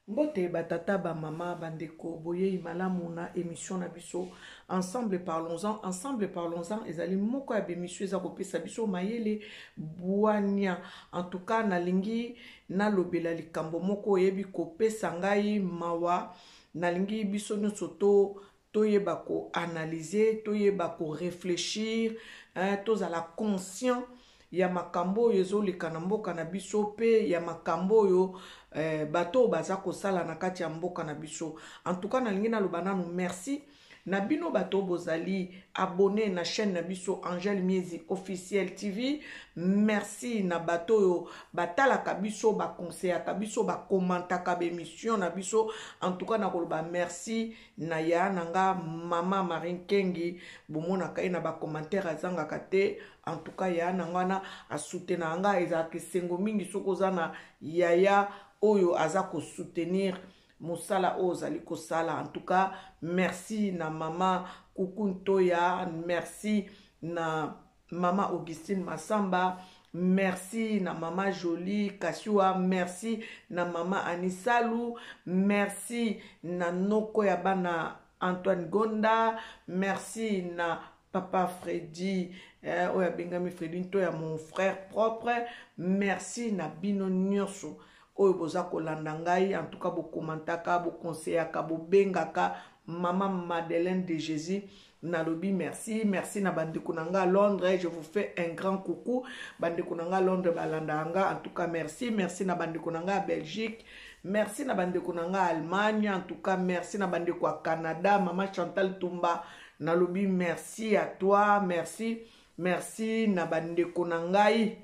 Mbote ba tata, ba mama, ba ndeko, boyeyi malamu na emission na biso Ensemble parlons-en. Ensemble parlons-en ezali moko ya b'emission eza kopesa biso mayele bwania. En tout cas, nalingi nalobela likambo moko eyebi kopesa ngai mawa. Nalingi biso nyonso to toyeba ko analyse toyeba ko reflechir hein, tozala conscient ya makambo oyo ezoleka na mboka na biso mpe ya makambo oyo eh, bato oyo baza kosala na kati ya mboka na biso en tout cas nalingi naloba nanu merci na bino bato bozali abone na chaîne na biso angel miezi officiel tv merci na bato oyo batalaka biso bakonseyaka biso bakomantaka baemission na biso en tout cas nakoloba merci na ya na nga maman Marie Nkengi bomonaka ye na ba commentaire azangaka te en tout cas ya na nga wana asoutenaka nga ezalaka esengo mingi soki oza na yaya oyo aza ko soutenir mosala oyo ozali kosala en tout cas merci na maman kuku ntoya merci na Mama Augustine Massamba, merci na mama Jolie Kasiwa, merci na mama Anisalu, merci na noko ya bana Antoine Gonda, merci na papa Freddy eh, oyo abengami Freddy nto ya mon frère propre, merci na bino nyonso oyo boza kolanda ngai en tout cas bo commentaka bo conseillaka bo bengaka maman Madeleine de Jésus nalobi merci merci na bandeko na nga londres je vous fais un grand coucou bandeko na nga londres balandaka nga en tout cas merci merci na bandeko na nga belgique merci na bandeko na nga allemagne en tout cas merci na bandeko ya canada mama chantal tumba nalobi merci à toi merci merci na bandeko na ngai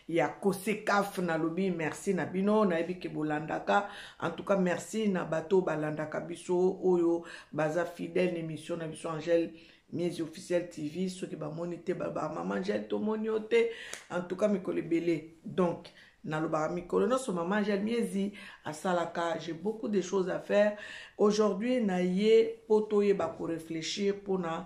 ya kosekaf nalobi merci na bino nayebi ke bolandaka en tout cas merci na bato oyo balandaka biso oyo baza fidèle na émission na biso angèle mise officielle tv soki bamoni te bamama angèle tomoni yo te en tout cas mikolo ebele donc nalobaka mikolo nyonso mama angèle miezi asalaka j'ai beaucoup de choses à faire aujourd'hui na ye mpo toyeba korefléchir mpona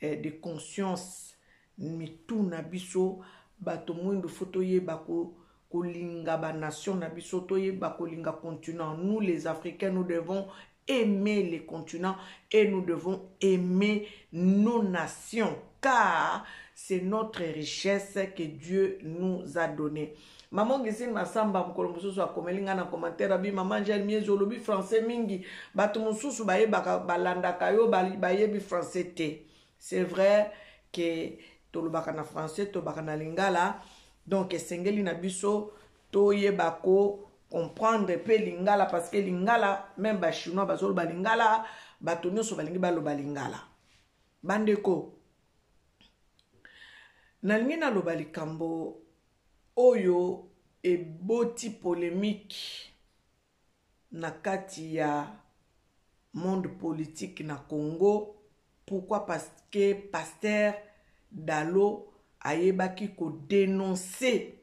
eh, de conscience mitu na biso bato mwindu fo toyeba ko kolinga ba nation na biso toyeba kolinga continent nous les africains nous devons aimer les continents et nous devons aimer nos nations car c'est notre richesse que Dieu nous a donnée. Maman Gisine Massamba mokolo mosusu akomeli ngai na commentaire abi mama Angèle Miezo olobi français mingi bato mosusu bayebaka balandaka yo bayebi français te c'est vrai ke tolobaka na français tolobaka na lingala donc esengeli na biso toyeba ko comprendre mpe lingala parce que lingala meme bachinois bazoloba lingala bato nyonso balingi baloba lingala bandeko nalingi naloba likambo oyo eboti polemique na kati ya monde politique na Congo pourquoi parce que pasteur Dalo ayebaki ko denoncer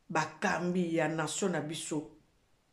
bakambi ya nation na biso.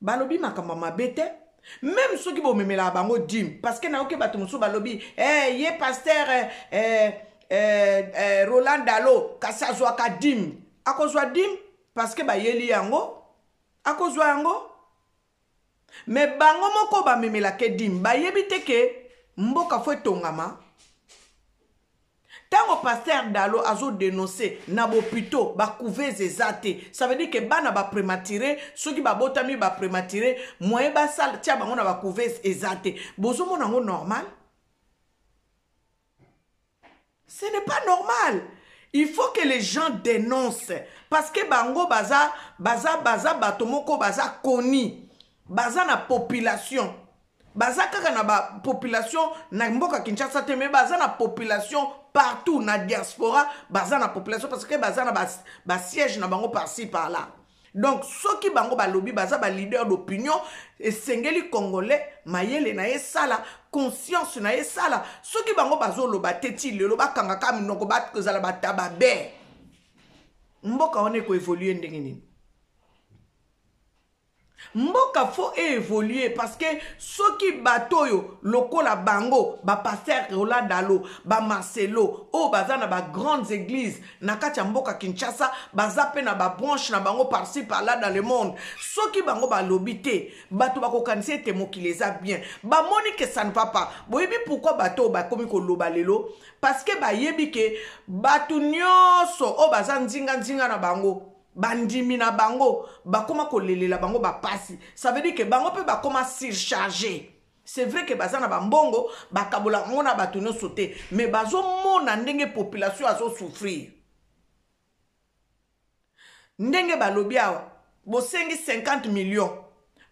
balobi makambo ya mabe te meme soki bomemelaka bango dime parce que nayoki bato mosusu balobi hey, eh, ye paster eh, eh, eh, eh, roland dalo kasi azwaka dime akozwa dime parce que bayeli yango akozwa yango me bango moko bamemelaka dime bayebi te ke mboka fo etongama Tango pasteur Dalo azo denonce na bopito ba couveuse eza te ça veut dire que bana ba premature soki ba botami ba premature moyen ba sala tia bango na ba couveuse eza te bozo mona ngo normal ce n'est pas normal il faut que les gens dénoncent parce que bango baza baza baza bato moko baza koni baza na population baza kaka na ba population na mboka kinshasa te mais baza na population partout na diaspora baza na population parce que baza na basiège ba na bango parci par là donc soki bango balobi baza baleader d'opinion esengeli congolais mayele na ye esala conscience na ye esala soki bango bazoloba te ti lelo bakangaka minoko bakozala batababe mboka wana ekoevolue ndenge nini Mboka faut e evoluer parce que soki bato oyo lokola bango ba pasteur Roland Dalo, ba Marcelo oyo baza na ba grandes eglises na kati ya mboka Kinshasa baza pe na ba branches na bango par ci par là dans le monde soki bango balobi te bato bakokanisa ete mokili eza bien bamoni que ça ne va pas boyebi pourquoi bato oyo bakomi koloba lelo parce que bayebi que bato nyonso oyo baza nzinga nzinga na bango bandimi na bango bakoma kolelela bango bapasi ça veut dire que bango mpe bakoma surcharge c'est vrai que baza na bambongo bakabola yango na bato nyonso te mais bazomona ndenge population azosouffrir ndenge balobi awa bosengi 50 millions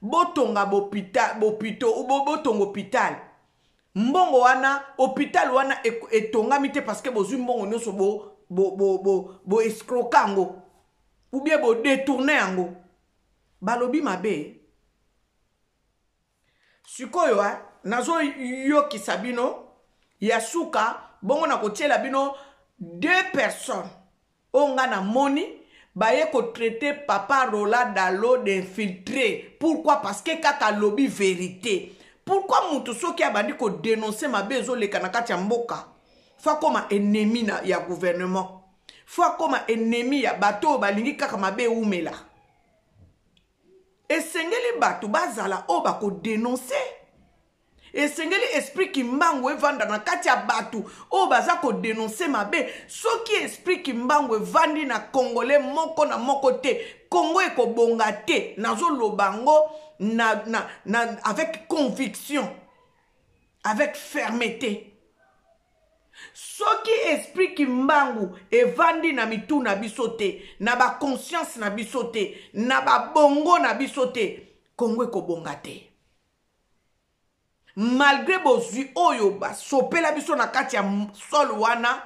botonga bopito botonga hôpital Mbongo wana hopital wana etongami te parce que bozui mbongo nyoso bo bo bo bo, bo escroka yango ou bien bo détourner yango. Balobi mabe. Sikoyo hein, nazo yokisa bino ya suka bongo na kotiela bino deux personnes Oyo nga na moni baye ko traite papa Rola Dalo d'infiltre pourquoi parce que kaka alobi verite pourquoi mutu soki abandi ko denoncer mabe ezo leka na kati ya mboka faut akoma ennemi na ya gouvernement faut akoma ennemi ya bato oyo balingi kaka mabe ewumela esengeli bato bazala oyo bakodenonse esengeli esprit kimbangu evanda na kati ya bato oyo baza kodenonse mabe soki esprit kimbangu evandi na kongole moko na moko te kongo ekobonga te nazoloba yango na, na, na, avec conviction avec fermeté soki esprit kimbangu evandi na mitu na biso te na baconscience na biso te na babongo na biso te kongo ekobonga te malgre bozwi oyo basopela biso na kati ya sole wana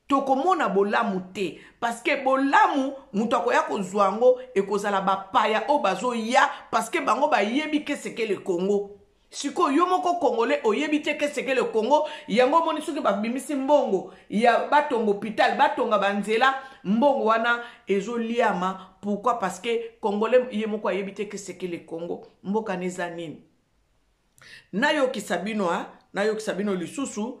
tokomona bolamu te paske bolamu moto akoya kozwa yango ekozala bapaya oyo bazoya paske bango bayebi kesekele kongo sikoyo yo moko congolais oyebi te qu'est-ce que le congo yango omoni soki babimisi mbongo ya batonga hôpital batonga banzela mbongo wana ezoliama pourquoi parce que congolais ye moko ayebi te qu'est-ce que le congo mboka na eza nini nayokisa bino a nayokisa bino lisusu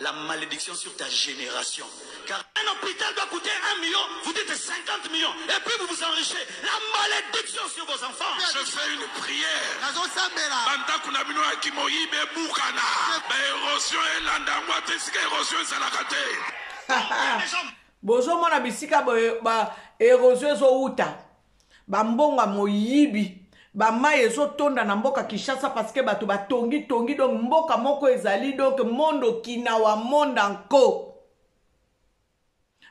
La malediction sur ta generation. Car un hôpital doit coûter 1 million, vous dites 50 millions, et puis vous vous enrichez. La malédiction sur vos enfants. Je fais une prière. Bandako na bino ya kimoyibi ebukana. Ba érosion elanda yango ata esika érosion ezalaka te. bozomona bisika ba érosion ezowuta Ba mbongo ya moyibi. Ba mayi ezo tonda na mboka Kinshasa parce que batu ba tongi tongi donc mboka moko ezali donc monde okinawa monde en co.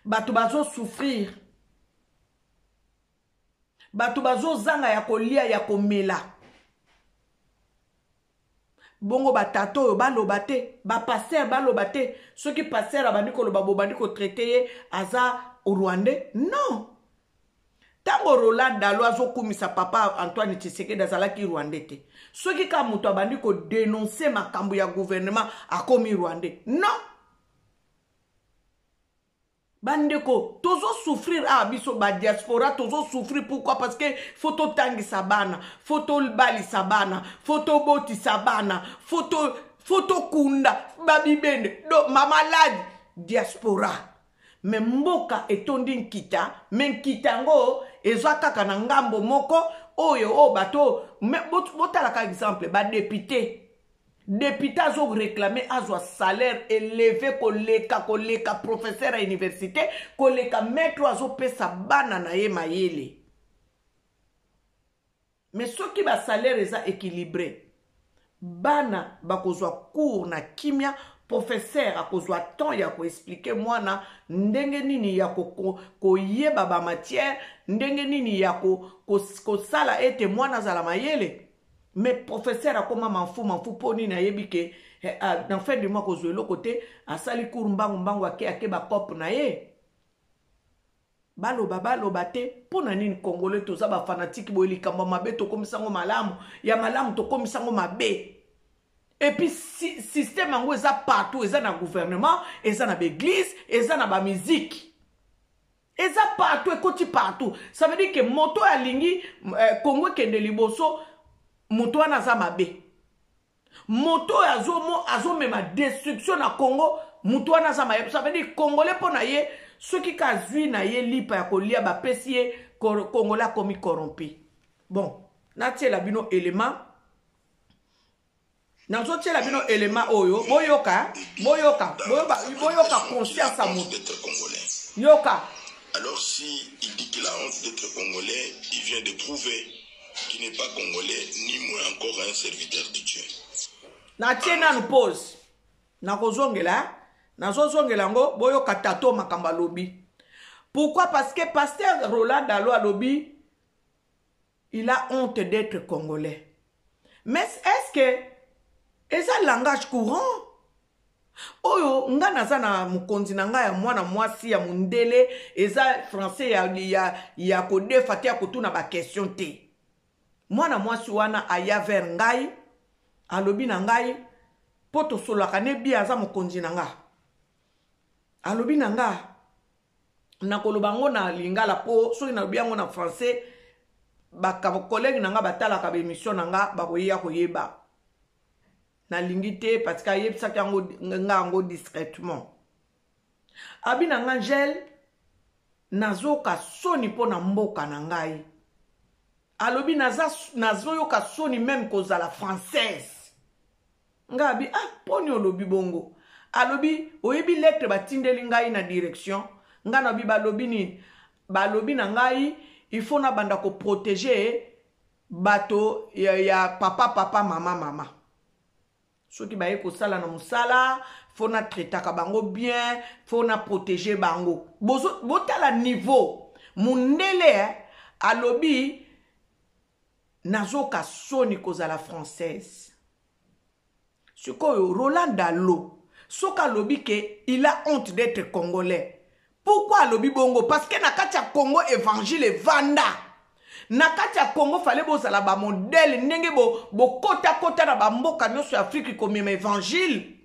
Batu bazo souffrir. Batu bazo zanga ya kolia ya komela. bongo batata oyo baloba te bapaster baloba te soki paster abandi koloba bobandi kotraite ye aza rwandais non ntango roland dalo azokumisa papa antoine tshisekedi azalaki rwandais te soki kaka moto abandi kodenonse makambo ya gouvernement akomi rwandais non bandeko tozo souffrir awa ah, biso badiaspora tozo souffrir pourquoi parce que fo totangisa bana fo tobalisa bana fo tobotisa bana fo tokunda babibende do mamaladi diaspora me mboka etondi nkita me nkita yango eza kaka na ngambo moko oyo oyo bato botalaka exemple badepute Depute azo reclamer azwa salaire eleve koleka koleka professeur ya universite koleka maître oyo azopesa bana na ye mayele me soki basalaire eza équilibré bana bakozwa cours na kimia professeur akozwa temps ya koexplike mwana ndenge nini ya koyeba ko, ko bamatière ndenge nini ya kosala ko, ko ete mwana azala mayele mais professeur akoma manfu manfu mpo nini ayebi ke eh, ah, na fin du mois kozwa eloko te asali cour mbangu mbangu ake ake bacope na ye baloba baloba te mpo na nini congolais toza bafanatike boye likambo ya mabe tokomisa yango malamu ya malamu tokomisa yango mabe epuis si, systeme yango eza partout eza na gouvernement eza na baeglise eza na bamiziki eza partout ekoti partout ça veut dire que moto oyo alingi eh, kongo ekende liboso moto wana aza mabe moto oyo azomema azo destruction na kongo moto wana aza mabe ça veut dire kongole mpo na ye soki kazwi na ye lipa ya kolia bapesi ye kongole akomi corrompi bon natiela bino element nazotiela bino elema oyo boyoka boyoka boyoka conscience ya moto yoka alors si il dit qu'il a honte d'être congolais il vient de prouver qu'il n'est pas congolais ni moins encore un serviteur de dieu natie nanu pose nakozongela nazozongela yango boyoka tato makambo alobi pourquoi parce que pasteur roland dalo alobi Il a honte d'etre congolais. Mais est-ce que eza langage courant? oyo nga naza na mokonzi na nga ya mwana mwasi ya mondele eza français ya, ya, ya kodefa te ya kotuna baquestion te mwana mwasi wana aya vers ngai alobi na ngai mpo tosololaka ne bia aza mokonzi na nga alobi na nga nakoloba yango na lingala mpo soki nalobi yango na français bakolege na ngai batalaka baemission na ngai bakoya koyeba nalingi te parce que ayebisaki yango ngai yango discrètement abi na ngai ngel nazoyoka soni mpo na mboka na ngai alobi nazoyoka soni meme kozala française nga abi ah poni olobi bongo alobi oyebi lettre batindeli ngai na direction nga na bi balobi nini balobi na ngai il faut nabanda koprotege bato ya, ya papa papa mama mama soki baye kosala na mosala fo natretaka bango bien fo naprotege bango botala niveau mondele eh, alobi nazoka soni kozala française sikoyo roland dalo soki alobi ke il a honte d'etre congolais pourkui alobi bongo parce que na kati ya congo evangile evanda na kati ya congo fale bozala bamodele ndenge bokotakota bo na bamboka nyonso ya afriki komema evangile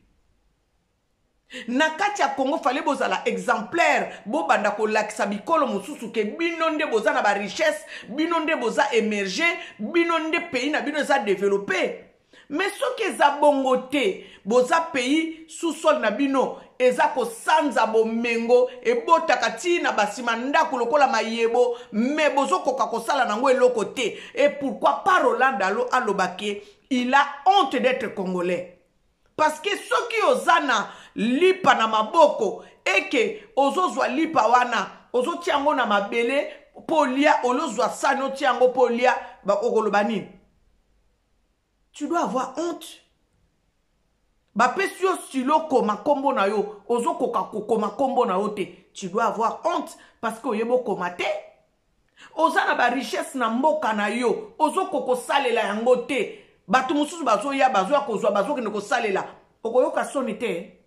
Na kati ya Congo fallait bozala exemplaire bo banda ko lakisa bikolo mosusu ke bino nde boza na ba richesse bino nde boza emerge bino nde pays na bino eza developpe mais soki eza bongo te boza pays sous sol na bino eza kosanza bomengo ebotaka ti na basima ndako lokola mayebo me bozokoka kosala nango eloko te et pourquoi pas Roland Dalo aloba ke il a honte d'être congolais parce que soki oza na lipa na maboko eke ozozwa lipa wana ozotia yango na mabele mpo olia olozwa sani otia yango mpo olia okoloba nini tu dois avoir honte bapesi yo stilo koma nkombo na yo ozokoka kokoma nkombo na yo te tu dois avoir honte parce que oyebi okoma te oza na barichesse na mboka na yo ozokoka kosalela yango te bato mosusu bazoya bazoya kozwa bazokende kosalela okoyoka soni te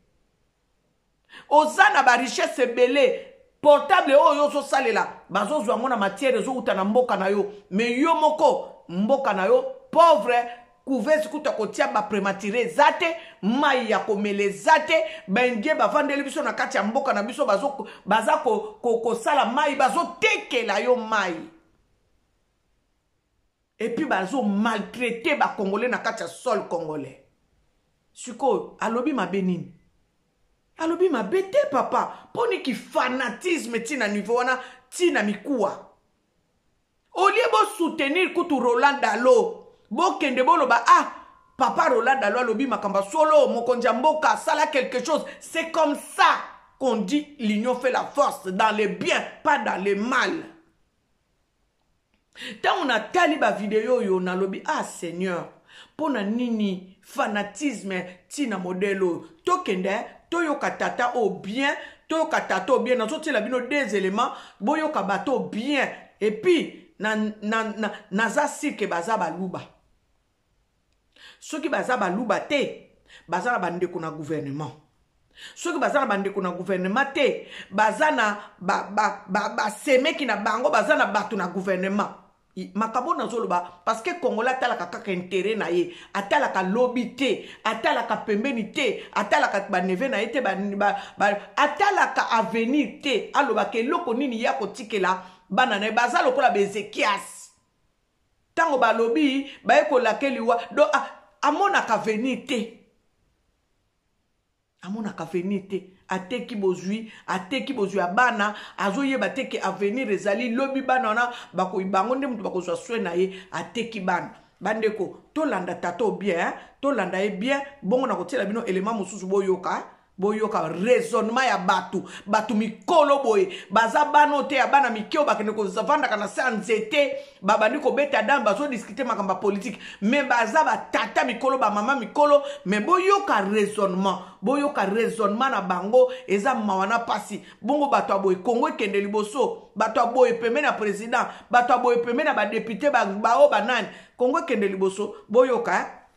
oza na barichesse ebele portable oyo yo ozosalela bazozwa yango na matière ezowuta na mboka na yo me yo moko mboka na yo pauvre couveuse kutu akotia baprematire eza te mai ya komela eza te baindie bavandeli biso na kati ya mboka na biso baza kosala ko, ko mai bazotekela yo mai epuis bazomaltraite bacongolais na kati ya sol congolais sikoyo alobi mabe nini alobi mabe te papa mpo niki fanatisme ntina nivo wana ntina mikuwa au lieu bo soutenir kutu Roland Dalo bokende boloba ah papa Roland Dalo alobi makambo solo mokonzi ya mboka sala quelque chose c'est comme ça qu'on dit l'union fait la force dans le bien pas dans le mal ntango natali bavideo oyo nalobi ah seigneur Mpo na nini fanatisme ti na modèle oyo? Tokende toyoka tata oyo bien, toyoka tata oyo bien. Nazotiela bino deux elements, boyoka bato oyo bien et puis na, na, na, naza sur que baza baluba. Soki baza baluba te, baza na bandeko na gouvernement. soki baza na bandeko na guvernema te baza na basemeki ba, ba, ba na bango baza na bato na guvernema makambo nazo loba parce que congolais atalaka kaka interet na ye atalaka lobi te atalaka pembeni te atalaka baneve na ye te ba, ba, ba, atalaka avenir te alobaka eloko nini ye akotikela bana na ye baza lokola baezekias ntango balobi baye kolake liwa do amonaka avenir te amonaka avenir te ateki bozwi ateki bozwi ya bana azoyeba te ke avenir ezali lobi bana wana bakoi bango nde moto bakozwa swe na ye ateki bana bandeko tolanda tata o bien eh? tolanda ye bien bongo na kotiela bino elema mosusu boyoka eh? boyoka raisonnement ya bato bato mikolo boye baza bana oyo te ya bana mike oyo bakende kovandaka na se ya nzete babandi kobeta dame bazodiskute makambo ya politike me baza batata mikolo bamama mikolo me boyoka raisonnement boyoka raisonnement na bango eza mawa na mpasi bongo bato ya boye kongo ekende liboso bato ya boye pembeni ya président bato ya boye pembeni ya badepute baoyo banani kongo ekende liboso boyoka eh?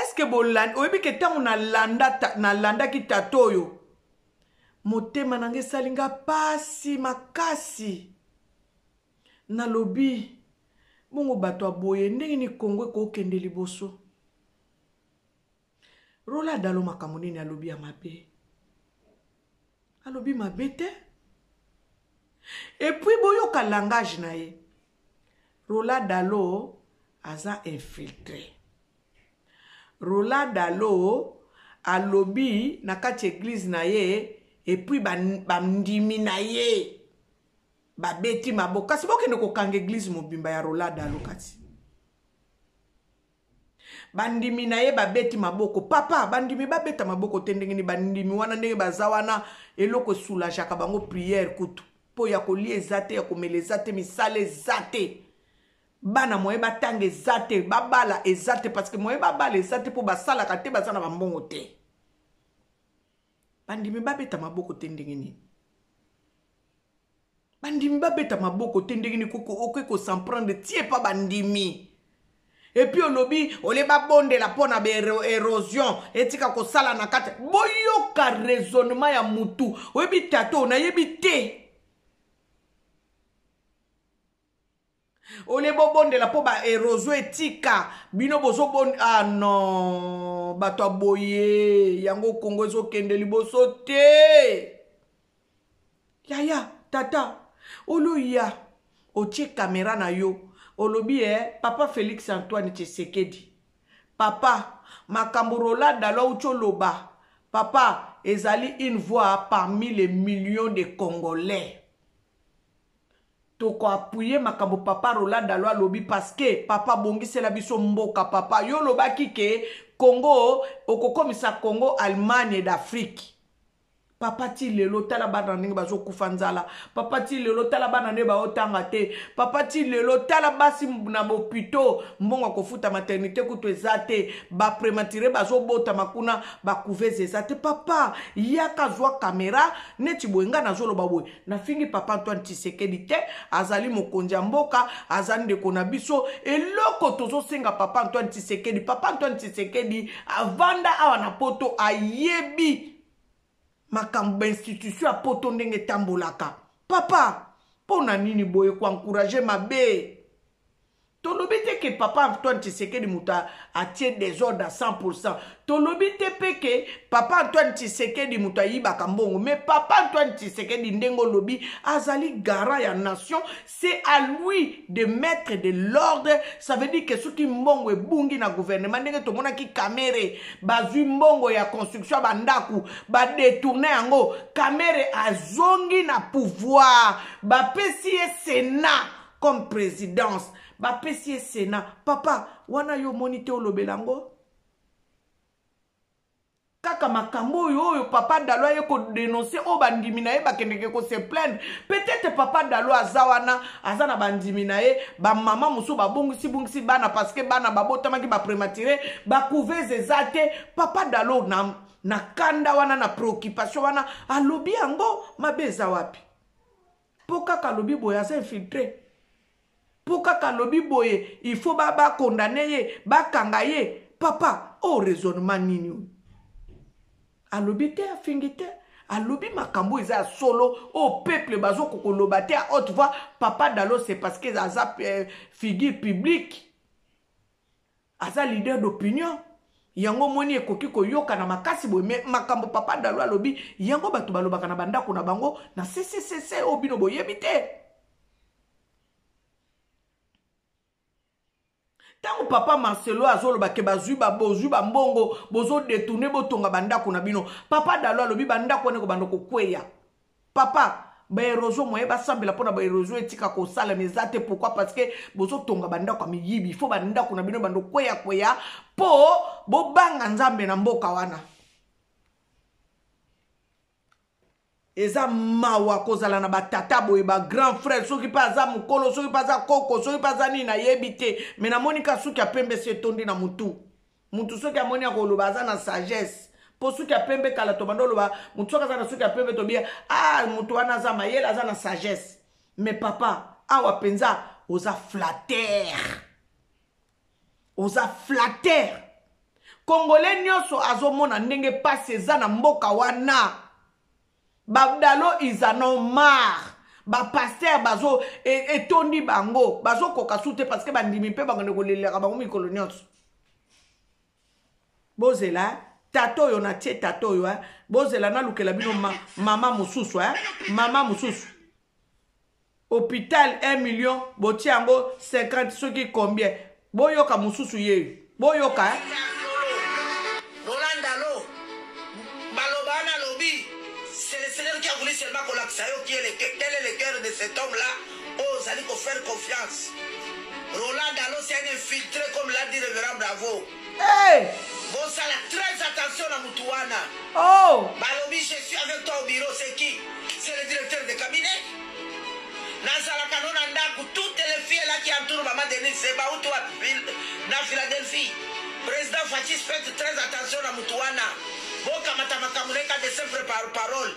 eske bolandi oyebi ke ntango nalanda ta, nalandaki tata oyo motema na nga esali nga pasi makasi nalobi bongo bato ya boye ndenge ni kongo ekokende liboso rola dalo makambo nini alobi ya mabe alobi mabe te epuis boyoka langage na ye rola dalo aza infiltre rola dalo alobi na kati eglize na ye epuis bandimi ba na ye babeti maboko kasi bokende kokanga eglize mobimba ya rola dalo kati bandimi na ye babeti maboko papa bandimi babeta maboko te ndenge nini bandimi wana ndenge baza wana eloko esulajaka bango priere kutu mpo ya kolia eza te ya komela eza te misala eza te bana moye batanga eza te babala eza te parce que moye babala eza te mpo basalaka te baza na bambongo te bandimi babeta maboko te ndenge nini bandimi babeta maboko te ndenge nini okoki kosemprendre tie pa bandimi epuis olobi olie babondela mpo na baerosion etika kosala na kati boyoka raisonnement ya mutu oyebi tato nayebi te olie bobondela mpo baerozo etika bino bozobon ah non bato ya boye yango kongo ezokende liboso te yaya tata oloya otie kamera na yo olobi e eh, papa félix antoine tshisekedi papa makambo roland dalo auti oloba papa ezali une voix parmi les millions de congolais Toko appuyer makambo papa Roland Dalo alobi parce que papa bongisela biso mboka papa yo olobaki ke Congo okokomisa Congo Allemagne d'Afrique papa ti lelo tala bana ndenge bazokufa nzala papa ti lelo tala bana nde baotanga te papa ti lelo tala basi na bopito mbongo ya kofuta maternité kutu eza te baprematire bazobotama kuna bacouvese eza te papa yaka zwa kamera neti boye ngai nazoloba boye nafingi papa antoine tisekedi te azali mokonzi ya mboka aza ndeko na biso eloko tozosenga papa antoine tisekedi papa antoine tisekedi avanda awa na poto ayebi makambo bainstitution ya poto ndenge etambolaka papa mpo na nini boye koencourage mabe tolobi te ke papa antoine tshisekedi moto atie desordre a 100 pourcent tolobi te mpe ke papa antoine tshisekedi moto ayibaka mbongo mais papa antoine tshisekedi ndenge olobi azali garant ya nation c'est à lui de mettre de l'ordre ça veut dire ke soki mbongo ebungi na gouvernement ndenge tomonaki kamere bazwi mbongo ya construction ya bandako badetourne yango kamere azongi na pouvoir bapesi ye senat comme presidence bapesi ye sena papa wana yo omoni te olobela yango kaka makambo oyo oyo papa dalo aye kodenonse oyo bandimi na ye bakendeke kose plaindre peut-être papa dalo aza wana aza na bandimi na ye bamama mosusu babongisibongisi bana parceke bana babotamaki baprematire bacouvese eza te papa dalo na, na kanda wana na préoccupation wana alobi yango mabe eza wapi mpo kaka alobi boye aza infiltre mpo kaka alobi boye il faut bakondane ba ye bakanga ye papa o oh, raisonnement nini oyo alobi te afingi te alobi makambo eza ya solo oyo oh, peuple bazokokoloba te a haute voix papa dalo c'est parce que aza euh, figure publique aza leader d'opinion yango omoni ekoki koyokana makasi boye me makambo papa dalo alobi yango bato balobaka na bandako na bango na ccc oyo bino boyebi te ntango papa marcelo azoloba ke bazwi bozwi bambongo bozodetourne botonga bandako na bino papa dalo alobi bandako wana ekobanda kokweya papa ba erosion moye basambela mpo na ba erosion etika kosalama eza te pourkui parce que bozotonga bandako ya miyibi fo bandako na bino bando kweya kweya mpo bobanga nzambe na mboka wana eza mawa kozala na batata boye bagrand frère soki mpe aza mokolo soki mpe aza koko soki mpe aza nini nayebi te me namoni ka suki ya pembe si etondi na motu mutu soki amoni akoloba aza na sagesse mpo suki ya pembe kala tobanda oloba motu soki aza na suki ya pembe tobiya a ah, motu wana aza mayele aza na sagesse me papa awa mpenza oza flater oza flater kongole nyonso azomona ndenge mpasi eza na mboka wana babdalo ils en ont marre bapaster bazo e, etondi bango bazokoka su te parce que bandimi mpe bakende kolelelaka bango mikolo nyonso bozela tata oyo natie tata oyo bozela nalukela bino ma, mama mosusu mama mosusu hopital 1 million botie yango 50 soki combien boyoka mosusu ye boyoka eh? seulement kolakisa yo qui est le, quel est le cœur de cet homme là oyo oh, ozali kofaire confiance roland dalo c'est un infiltré comme l'a dit révérend bravo Hey! Bosala très attention na mutu wana. Oh! Balobi je suis avec toi au bureau, c'est qui? C'est le directeur de cabinet? Nazalaka no na ndaku, toutes les filles là qui entourent maman Denise Zeba ou toi na Philadelphie. Président Fatshis faites très attention na mutu wana. Bokamata makambo na ye ka de simple par parole.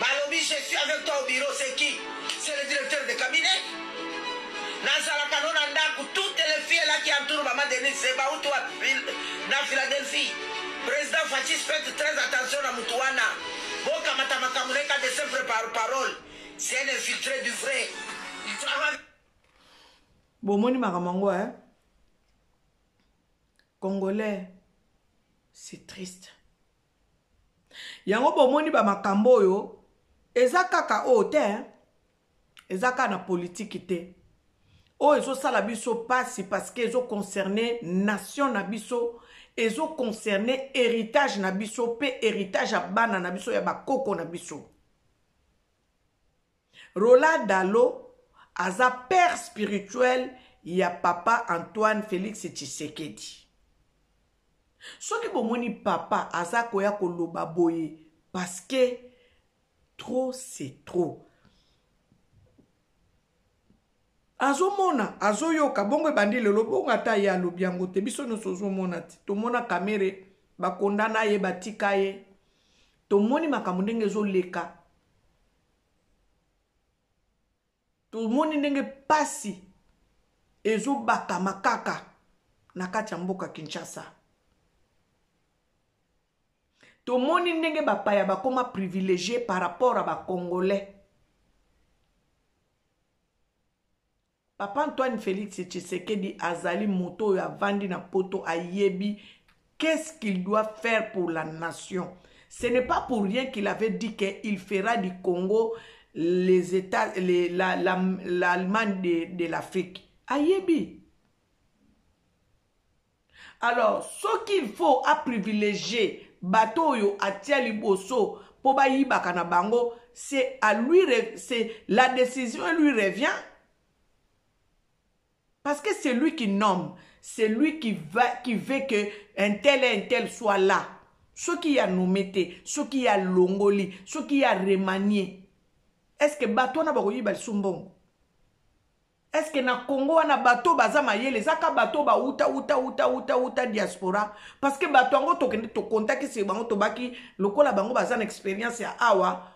Balobi je suis avec toi au bureau c'est qui? C'est le directeur de cabinet? Nazalaka no na ndaku toutes les filles là qui entourent maman Denise c'est bawuti wapi na Philadelphie? President Fatshis faites très attention na mutu wana bokamata makambo neka de sempre par parole c'est un infiltré du vrai il travaille bomoni makambo yango eh? congolais c'est triste yango bomoni bamakambo oyo eza kaka oyo te eza kaka na politiki te oyo ezosala biso mpasi parceke ezoconcerne nation na biso ezoconcerne héritage na biso mpe héritage ya bana na biso ya bakoko na biso Rola Dalo aza père spirituel ya papa Antoine Felix Tshisekedi. Soki bomoni papa aza koya koloba boye parce que trop c'est trop. Azomona, azoyoka, bongo ebandi lelo, bongo ata ye alobi yango te, biso nyonso ozomona te. Tomona Kamere bakondana ye, batika ye. Tomoni makambo ndenge ezoleka. tomoni ndenge pasi ezobakama kaka na kati ya mboka kinshasa tomoni ndenge bapaya bakoma privilegie par rapport ya bacongolais Papa Antoine Felix Tshisekedi azali moto oyo avandi na poto ayebi qu'est-ce qu'il doit faire pour la nation. Ce n'est pas pour rien qu'il avait dit qu'il fera du Congo les États, les, la, la, l'Allemagne de, de l'Afrique. Ayebi. alors soki il faut aprivilégie bato oyo atia liboso mpo bayibaka na bango c'est à lui c'est la décision lui revient parce que c'est lui qui nomme c'est lui qui va qui veut que un tel et un tel soit là soki ya nomme te soki ya longoli soki ya remanie est ce que bato wana bakoyiba lisu mbongo eske na congo wana bato oyo baza mayele eza ka bato oyo bauta uta uta uta uta diaspora parce que bato yango tokende tokontakisi bango tobaki lokola bango baza na experience ya awa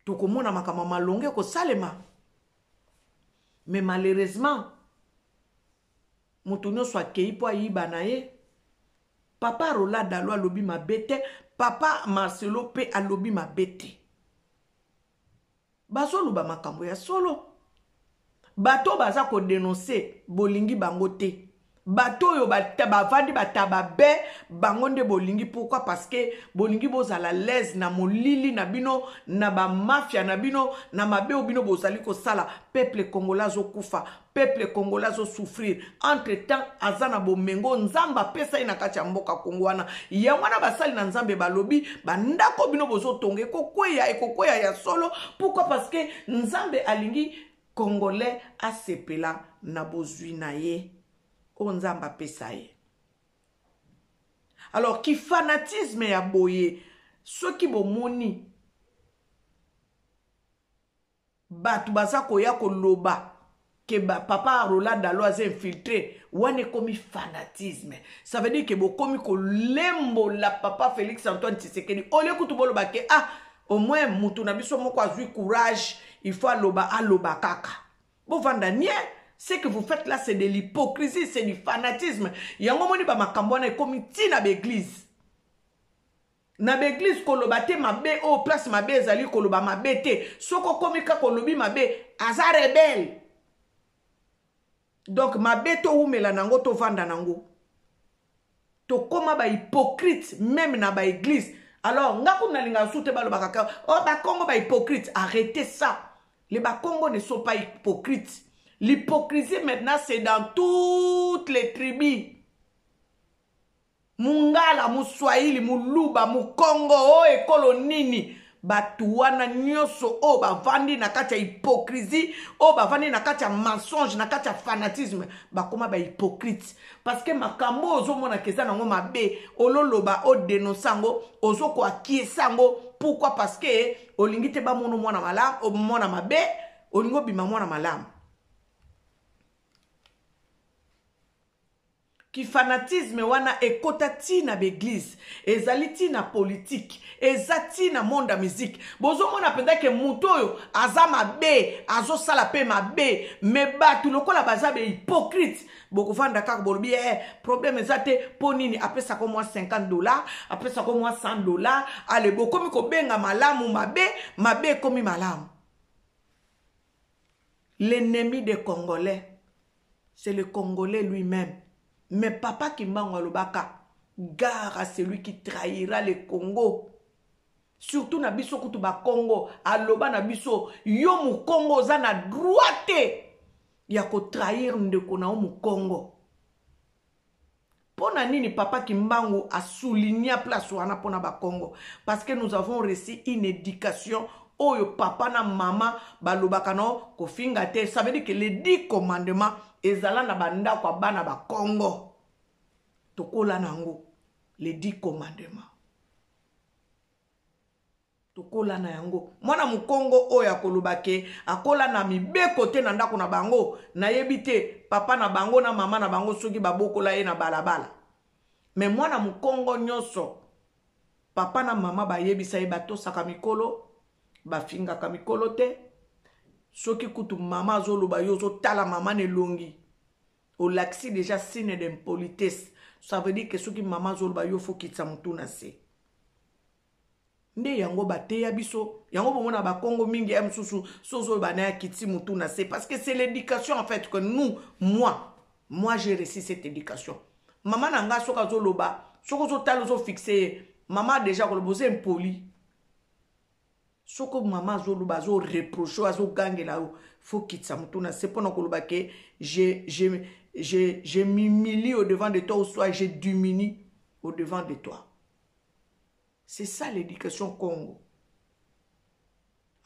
tokomona makambo ya malonga ekosalema mais malheureusement moto nyonso akei mpo ayiba na ye papa rola dalo alobi mabe te papa marcelo mpe alobi mabe te bazoloba makambo ya solo bato oyo baza kodenonse bolingi bango te bato oyo bavandi bataba be bango nde bolingi pourkui parce que bolingi bozala laise na molili na bino na bamafia na bino na mabe oyo bino bozali kosala peuple congolais azokufa peuple congolais azo souffrir entre temps aza na bomengo nzambe apesa ye na kati ya mboka kongo wana yango wana basali na nzambe balobi bandako bino bozotonga ekokweya ekokweya ya solo pourkui parce que nzambe alingi congolais asepela na bozwi na ye oyo nzambe apesa ye alors kifanatisme ya boye soki bomoni Batu baza koya koloba que ba papa Roland Dalo aza infiltré wana ekomi fanatisme ça veut dire que bokomi kolembola papa Félix Antoine Tshisekedi au lieu kutu boloba que ah au moins mutu na biso moko azui courage il faut aloba aloba kaka bovanda nie ce que vous faites là c'est de l'hypocrisie c'est du fanatisme yango moni ba makambo wana ekomi ntina ba église na ba eglise koloba te mabe oyo place mabe ezali koloba mabe te soki okomi kaka olobi mabe aza rebele donk mabe towumela na yango tovanda na yango tokóma bahypocrite meme na baeglise alors nga kuna nalingaka su te balobaka ka o oh, bakongo bahypocrite arrete ça le bakongo ne sont pas hypocrite l'hypocrisie maintenant c'est dans toutes les tribus mungala muswahili muluba mukongo o oh, ekolo nini bato wana nyonso oyo bavandi na kati ya hypocrisie oyo bavandi na kati ya mensonge na kati ya fanatisme bakoma bahypocrite parceke makambo oyo ozomonaka eza nango mabe ololoba odenonse yango ozokoakiesa yango pourkui parceke olingi te bamono mwana malamu mwana mabe olingi obima mwana malamu Ki fanatisme wana ekota ti na b'eglise, ezali ti na politique, eza ti na monde ya musique. Bozo mona penza ke mutu oyo aza mabe, azo sala pe mabe, mais batu lokola baza ba hypocrite, boko fanda kaka bolobi eh problème eza te, po nini apesa ko mwa 50 dollars, apesa ko mwa 100 dollars, allez bokomi ko benga malamu mabe, mabe ekomi malamu. L'ennemi des congolais c'est le congolais lui meme mais papa kimbangu alobaka gare à celui qui trahira le congo surtout na biso kutu bakongo aloba na biso yo mokongo oza na droit te ya kotrahir ndeko na yo mokongo pona nini papa kimbangu a souligna place wana pona bakongo parce que nous avons reçu une éducation oyo papa na mama balobaka no kofinga te ça veut dire que les dix commandements ezala na bandako ya bana bakongo tokola na yango les dix commandements tokola na yango mwana mokongo oyo akoloba ke akola na mibeko te na ndako na bango nayebi te papa na bango na mama na bango soki babokola ye na balabala me mwana mokongo nyonso papa na mama bayebisa ye batosaka mikolo bafingaka mikolo te soki kutu mama azoloba yo ozotala mama na elongi olakisi deja signe d'impolitesse ça veut dire ke soki mama azoloba yo fokitisa motu na se Nde yango ba teya biso yango bongo na bakongo mingi ya mosusu sozo bana ya kiti mutu na se parce que c'est l'éducation en fait que nous moi moi j'ai reçu cette éducation mama na nga soki azoloba soki ozotala ozofixe ye mama deja koloba oza impoli soko mama azoloba azoreproche azogangela yo fo kitisa motu na se mpo na koloba ke je, je, je, je m'humilie au devant de toi ou soit je diminue au devant de toi c'est ça l'éducation congo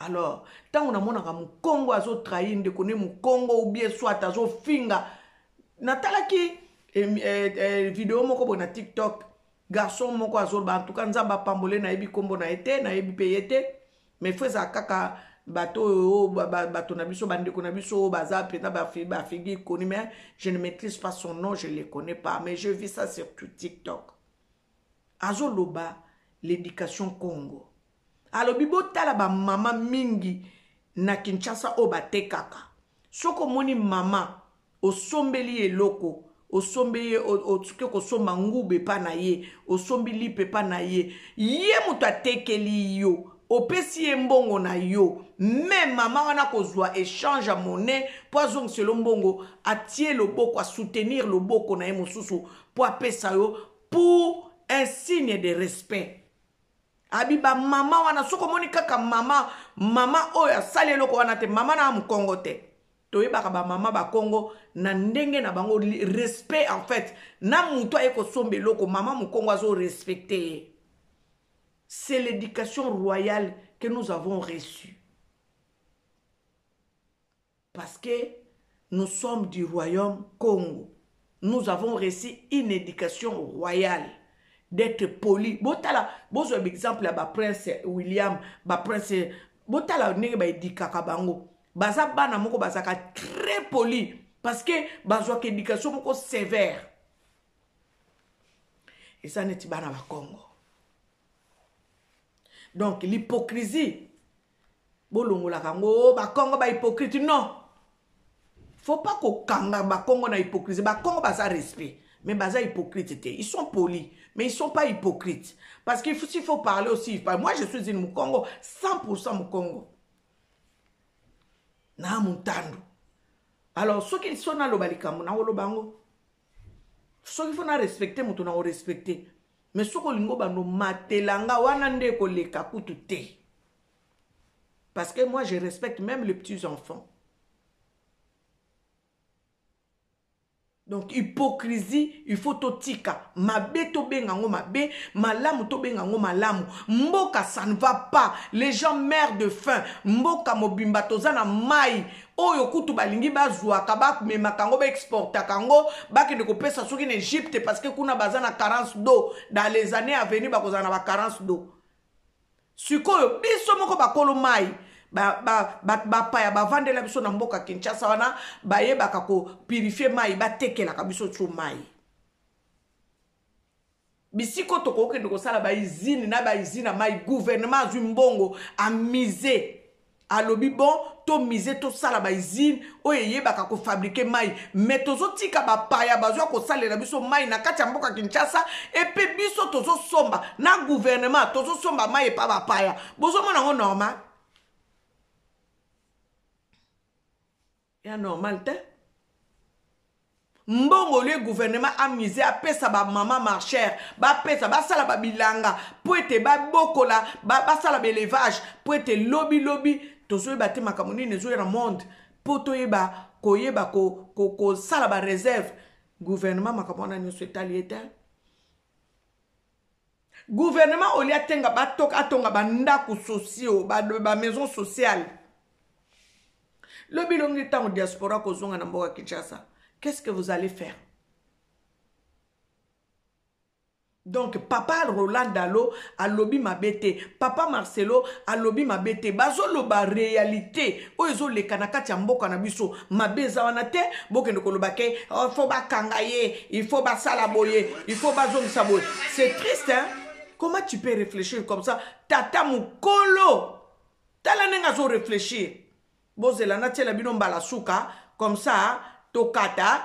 alors ntango namonaka mokongo azotrahi ndeko ne mokongo ou bien soit azofinga natalaki eh, eh, eh, video moko boye na tiktok garçon moko azoloba en tout cas nzambe apambole nayebi nkombo na ye te nayebi mpe ye te mais fo ezala kaka bato oyo bato na biso bandeko na biso oyo baza mpenza bafigi ikoni mais je ne maîtrise pas son nom je le connais pas mais je vis ça sur tout tiktok azoloba l'education congo alobi botala bamama mingi na kinshasa oyo batekaka soki omoni mama osombeli ye eloko osombi ye osuki kosomba nguba epa na ye osombi lipe epa na ye ye moto atekeli yo opesi ye mbongo na yo me mama wana akozwa echange ya monnaie mpo azongiselo mbongo atie loboko asoutenir loboko na ye mosusu mpo apesa yo pour un signe de respect abi bamama wana soki omoni kaka mama mama oyo asali eloko wana te mama na mokongo te toyebaka bamama bakongo na ndenge na bango respect en fait na motu aye kosomba eloko mama mokongo azorespecte ye c'est l'éducation royale que nous avons reçue Parce que nous sommes du royaume Congo nous avons reçu une education royale d'etre poli botala bozwa baexemple ya baprince william baprince botala ndenge baedikaka bango baza bana moko bazalaka très poli parce que bazwaka éducation moko sévère eza neti bana bakongo donc l'hypocrisie bolongolaka yango o oh, bakongo bahypocrite non faut pas kokanga bakongo na hypocrisie bakongo baza respect mais baza hypocrite te ils sont polis mais ils sont pas hypocrites parce qu'il faut, faut parler aussi moi je suis une mukongo 100% mukongo na muntandu alors soki so naloba likambo nakoloba yango soki fo na respecte moto na orespecte mais soki olingi obanda omatela nga wana nde ekoleka kutu te parce que moi je respecte même les petits enfants donc hypocrisie il faut totika mabe tobenga yango mabe malamu tobenga yango malamu mboka ça ne va pas les gens mère de fin mboka mobimba toza na mai oyo kutu balingi bazwaka bamemaka yango baexportaka yango bakende kopesa soki na egypte parce que kuna baza na carence d'eau dans les années avenir bakozala na bacarence d'eau sikoyo biso moko bakolo mai bapaya ba, ba, ba, ba bavandela biso na mboka kinshasa wana bayebaka kopurifie mai batekelaka biso tso mai bisika oyo tokokende kosala baizine na baizine ya mai gouvernement azwi mbongo amise alobi bon tomise tosala baizine oyo eyebaka kofabrike mai me tozotika bapaya bazwa kosalela biso mai na kati ya mboka kinshasa epe biso tozosomba na guvernema tozosomba mai epa bapaya bozomona yango normal Ea normal te. mbongo olie gouvernement amise apesa bamama marcher bapesa basala babilanga mpo ete babokola basala baelevage mpo ete lobi lobi tozoyeba te makambo nini ezoya na monde mpo toyeba koyeba kosala bareserve gouvernement makambo wana nyonso etali ye te gouvernement olie atenga batoka atonga bandako sociaux ba, ba maison sociale lobi longi ntango diaspora kozonga na mboka kinshasa qu'est ce que vous allez faire donc papa roland dalo alobi mabe te papa marcelo alobi mabe te bazoloba réalité oyo ezoleka na kati ya mboka na biso mabe eza wana te bokende koloba ke oh, il faut bakanga ye il faut basala boye il faut bazongisa boye c'est triste hein? comment tu peux réfléchir comme ça tata mokolo tala ndenge azo réfléchir bozela natiela bino mbala suka comme ça tokata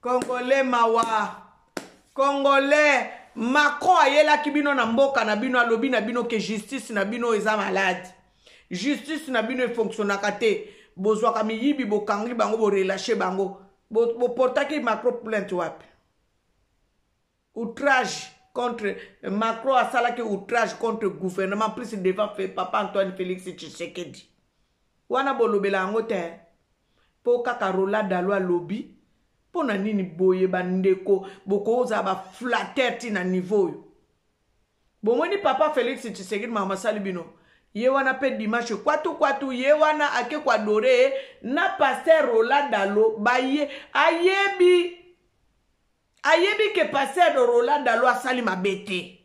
congolais mawa congolais macron ayelaki bino na mboka na bino alobi na bino ke justice na bino eza malade justice na bino efonctionnaka te bozwaka miyibi bokangi bango borelache bango boportaki bo macro plainte wapi outrage contre Macron asalaki outrage contre gouvernement plus devant papa Antoine Felix Tshisekedi wana bolobela yango te mpo kaka Roland Dalo alobi mpo na nini boye bandeko bokozala baflater ti na niveau oyo bomoni papa felix tshisekedi mama masali bino ye wana mpe dimanche kwatu kwatu ye wana ake koadore na paster rola dalo baye ayebi ayebi ke pasteur roland dalo asali mabe te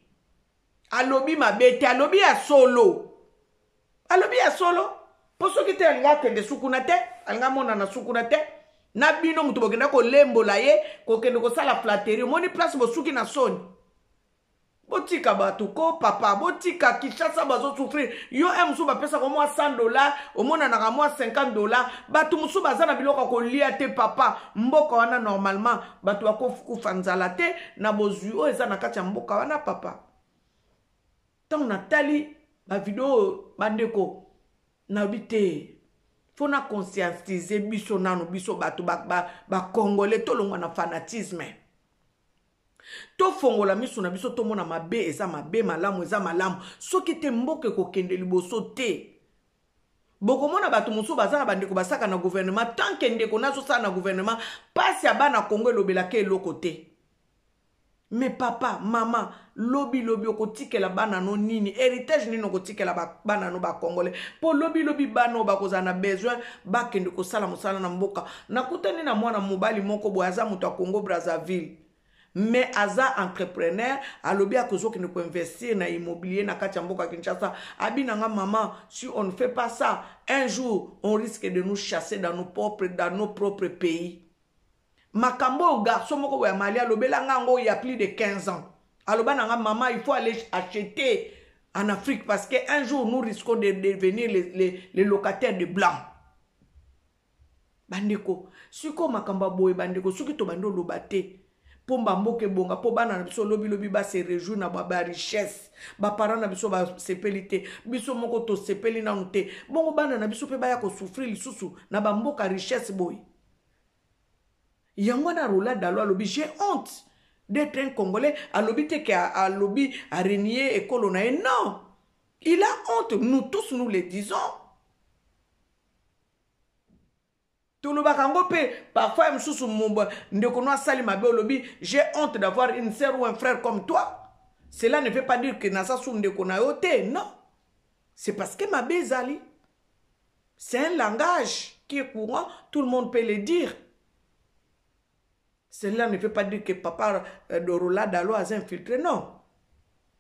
alobi mabe te alobi ya solo alobi ya solo mpo soki te alinga akende sukuna te alinga amonana sukuna te na bino moto bokenda kolembola ye kokende kosala flateri omoni place bosuki na soni botika bato ko papa botika kinshasa bazosouffrir yo e mosusu bapesaka mwa 100 dollar omonanaka mwa 50 dollar bato mosusu baza na biloko ya kolia te papa mboka wana normalement bato bakokufa nzala te na bozwi oyo eza na kati ya mboka wana papa ntango natali bavideo oyo bandeko nayobi te fo na conscientize biso nano biso bato bakongole ba, ba tolongwa na fanatisme Tofongola misu na biso tomona mabe eza mabe malamu eza malamu soki te mboka ekokende liboso te. Bokomona bato mosusu baza na bandeko basaka na gouvernement tant que ndeko nazo sala na gouvernement pasi ya bana Congo elobela ke eloko te. Me papa, mama, lobi lobi okotikela bana no nini? Heritage nini okotikela ba, bana no ba congolais? Po lobi lobi bana oyo bakozala na besoin bakende kosala mosala na mboka Nakutani na mwana mobali moko boye aza moto ya Congo Brazzaville me aza entrepreneur alobi akozokende koinvestir na immobilier na kati ya mboka kinshasa abi na nga mama si on ne fait pas ça un jour on risque de nous chasser dans nos propres, dans nos propres pays makambo oyo garçon moko boya mali alobela nga yango ya plus de 15 ans aloba na nga mama il faut aller acheter en afrique parce que un jour nous risquons de devenir les, les, les locataires de blancs bandeko sikoyo makambo ya boye bandeko soki tobandi oloba te mpo bamboka ebonga mpo bana na biso lobilobi base rejour na barichesse baparent na biso basepeli te biso moko tosepeli nanu te bongo bana na biso mpe baya kosouffrir lisusu na bamboka richesse boye yango wana rola dalo alobi j'ai honte d'être un congolais alobi te ke alobi arenie ekolo na ye non il a honte nous tous nous le disons tolobaka yango mpe parfois ya mosusu ndeko no asali mabe olobi j'ai honte d'avoir une sœur ou un frère comme toi cela ne veut pas dire que naza su ndeko na yo te non c'est parce que mabe ezali c'est un langage qui est courant tout le monde peut le dire Cela ne veut pas dire que papa euh, Dorola Dalo aza infiltré, non.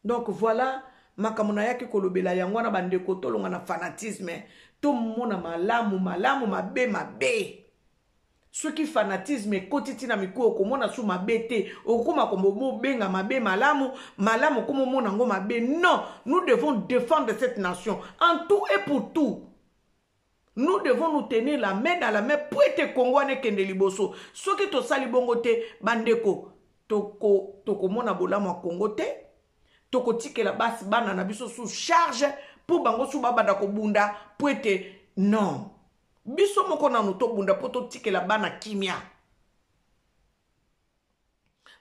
Donc voilà, makambo nayaki kolobela yango wana bandeko tolonga na fanatisme tomona malamu malamu mabe mabe soki fanatisme ekoti ntina mikuwa okomona su mabe te okokoma komobenga mabe malamu malamu okoma omona yango mabe non nous devons défendre cette nation en tout et pour tout Nous devons nous tenir la main dans la main mpo ete Congo wana ekende liboso. Soki tosali bongo te, bandeko, toko tokomona bolamu ya Congo te, tokotikela basi bana na biso sous charge mpo bango su babanda kobunda mpo ete non biso moko nanu tobunda mpo totikela bana kimia.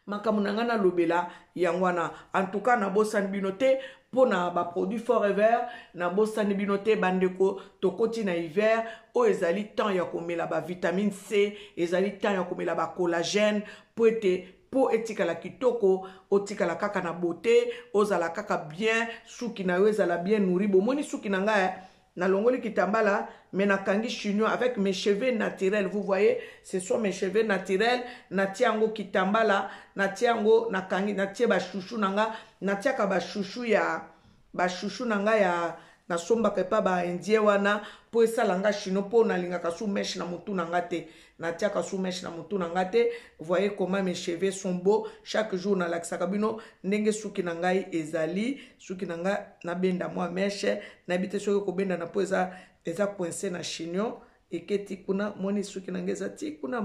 makambo na ngai nalobela yango wana antuka nabosani bino te mpo na baproduit forever nabosani bino te bandeko tokoti na hiver oyo ezali temps ya komela bavitamine c ezali temps ya komela bacollagène mpo ete mpo etikala kitoko otikala kaka na bote ozala kaka bien suki na yo ezala bien nouri bomoni suki na ngai na longoli kitambala mais na kangi chignon avec mes cheveux naturels vous voyez ce sont mes cheveux naturels na tia yango kitambala na tia yango na kangi na tie ba chouchou na nga na tiaka ba chouchou ya ba chouchou na nga ya nasombaka epa baindien wana mpo esala nga chino mpo nalingaka su meshe na motu na nga te natiaka sous mèche na mutu na nga te voyez comment mes cheveux sont beaux chaque jour nalakisaka bino ndenge suki na ngai ezali suki na nga nabenda mwa mèche nayebi te soki kobendana mpo eza eza coince na chignon eketi kuna moni suki na nga eza ti kuna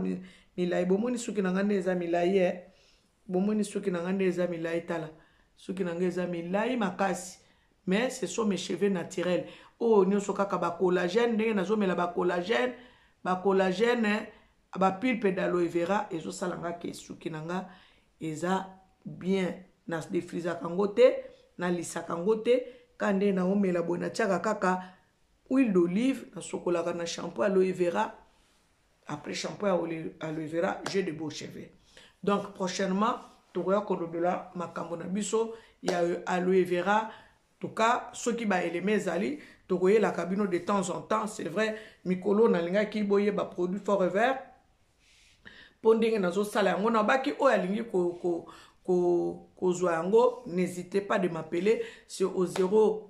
milai bomoni suki na nga nde eza milai e bomoni suki na nga nde eza milai tala suki na nga eza milai makasi Mais ce sont mes cheveux naturels. Oyo nioso kaka ba collagène ndenge nazo mela ba collagène, ba collagène, ba pulpe d'aloe vera ezo sala nga ke suki na nga eza bien. Na defrisaka ngo te, na lisaka ngo te, ka nde na omela boye na tiaka kaka huile d'olive, na sokolaka na shampoo aloe vera. après shampoing ya aloe vera j'ai de beaux cheveux donc prochainement tokoya kolobela makambo na biso ya aloe vera toka soki baeleme ezali tokoyelaka bino de temps en temps c'est vrai mikolo nalingaki boyeba produit forever mpo ndenge nazosala yango nabaki oyo alingi ko, ko, ko, kozwa yango n'hésitez pas de m'appeler c'est au 0